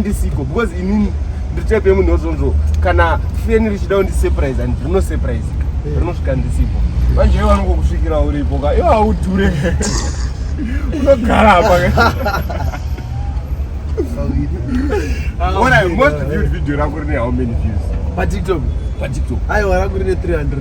ndisiko because inini ndiri type yemunhu wozvonzvo kana feni richida kundisurprise and rino surprise eh. rinosvika ndisipo manje iwe vanokokusvikira uripo ka iwe haudhure unogara apa What I most viewed video rako rine how many views? Pa TikTok. Pa TikTok. Aiwa rangu rine 300.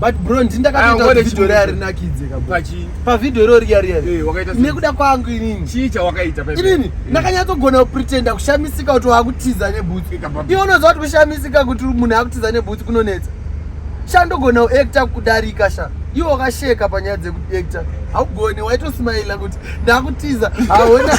but bro ndini ndakatoita video riya rinakidze kapachi pavideo iro riya riya eh, nekuda kwangu inini chii chawakaita inini eh. ndakanyatsogona kupretenda kushamisika kuti wakutiza nebhutsu eh, iwe unoziva kuti kushamisika kuti munhu akutiza nebhutsu kunonetsa sha ndogona kuacta kudarika sha iwe wakasheka panyaya dzekuacta haugoni waitosimaila kuti ndakutiza haona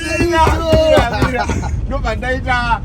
ndobva ndaita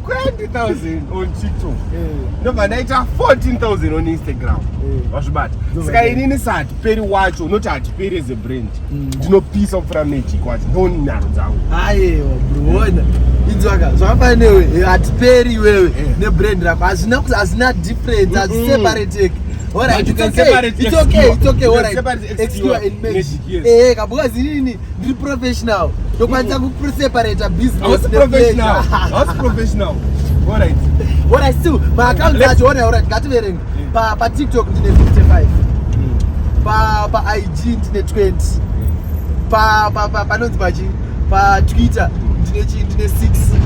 20000 on tiktok eh. ndobva ndaita 14000 on instagram eh. wazvibata saka inini sahatiperi wacho unoti hatiperi as a brand mm. ndinopisa kupfura magic wacho ndoni nharo dzangu ayewa bruona idzwaka zvakafana newe eh, hatiperi iwewe nebrand rako hazvina kuti hazvina difference haziseparateki All right, you can say it's okay, it's okay. All right, excuse me. Eh, kabuka zinini. Ndiri professional. Ndokwanisa ku separate business. I was professional. I was professional. All right. All right, still. My account is actually all right. Got it. Pa pa TikTok ndine 55. Hmm. Pa pa IG ndine 20. Pa pa pa panonzi pachi pa Twitter ndine chi ndine 6.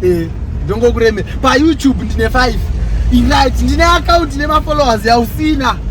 Eh, ndongokuremera. Pa YouTube ndine 5. Right, ndine account nema followers yausina.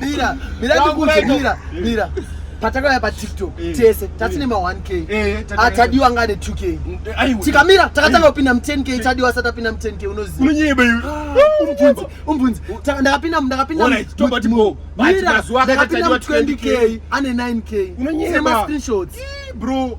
mira mira ndikuudze mira mira patakauya patiktok eh. tese eh. tatine ma 1k eh, ah, tadiwa ngane 2k tikamira takatanga kupinda mu 10k tadiwa asati apinda mu 10k unoziva ah, umbvunzi ndakapinda ndakapinda ndakapinda mu 20k ane 9k sema screenshots bro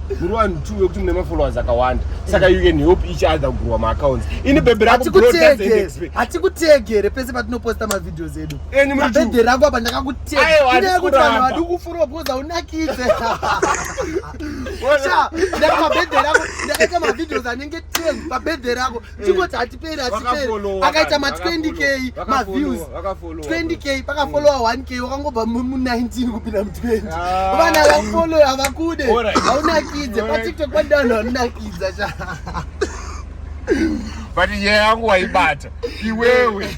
muri vanhu two vekuti mune mafollowers akawanda saka you can help each other kugurwa maaccounts ini bebe rakuhatikutege here pese patinoposta mavideos edu bebe rangu apa ndakakutegakuti vanhu vadi kufurwa because haunakidze ndakaita mavideos anenge 10 pabebe rako chingoti hatiperi hatiperi akaita ma 20 k maviews 20 k pakafollowa 1 mm. k wakangobva mu 19 kupinda mu 20 ah. vana vafollow havakude haunakidze patiktok padanho hanunakidza cha but nyaya yangu waibata iwewe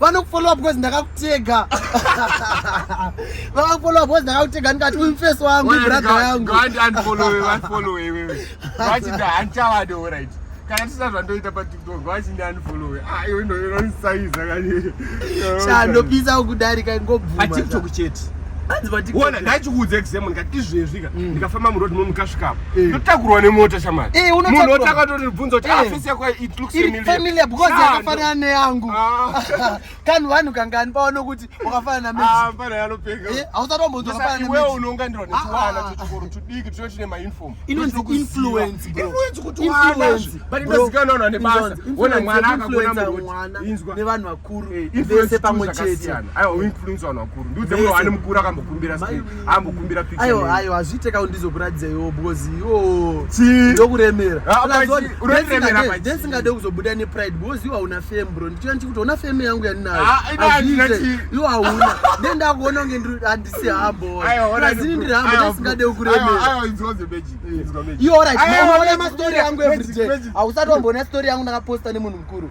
vanokufollowa because ndakakutega vakakufollowa because ndakakutega ndikati uyu mfesi wangu ibradha yangu kana tisina zvandoita patiktok vachindi anfollowe ah, iwe ndoinosaiza kani chandopisa ukudarika ingobvuma patiktok chete ona ndachikuudza exam ndikati izvezvika mm. ndikafamba muroad mo mukasvikapo eh. ndotakurwa nemota shamari eh, munhu otakatoibvunza kuti eh. ah, iri familiar because yakafanana neyangu ah. kani vanhu kangani paona kuti wakafanana namenevanhu vakuru vese pamwe chete ambokumbira picture ayo name. ayo hazviite ka ndizokuratidza iwo because iwo Chii? ndokuremera Ah, Plus but one, chii? Unotiremera ndisingade- pachii? ndisingade kuzobuda nepride because iwo hauna fame bro ndichiona ndichikuti hauna fame yangu yandinayo Ah, ina handina Hazviite. chii. iwo hauna then ndakuona kunge ndiri- handisi hambo Ayo, ona plus ini ndikuru. ndiri hambo Ayo, ndisingade ayo, kukuremera ayo, inzwa zvebeji, inzwa beji. iwo right Ayo, unoona beji, mastory yangu beji, everyday beji. hausati wamboona story yangu ndakaposta nemunhu mukuru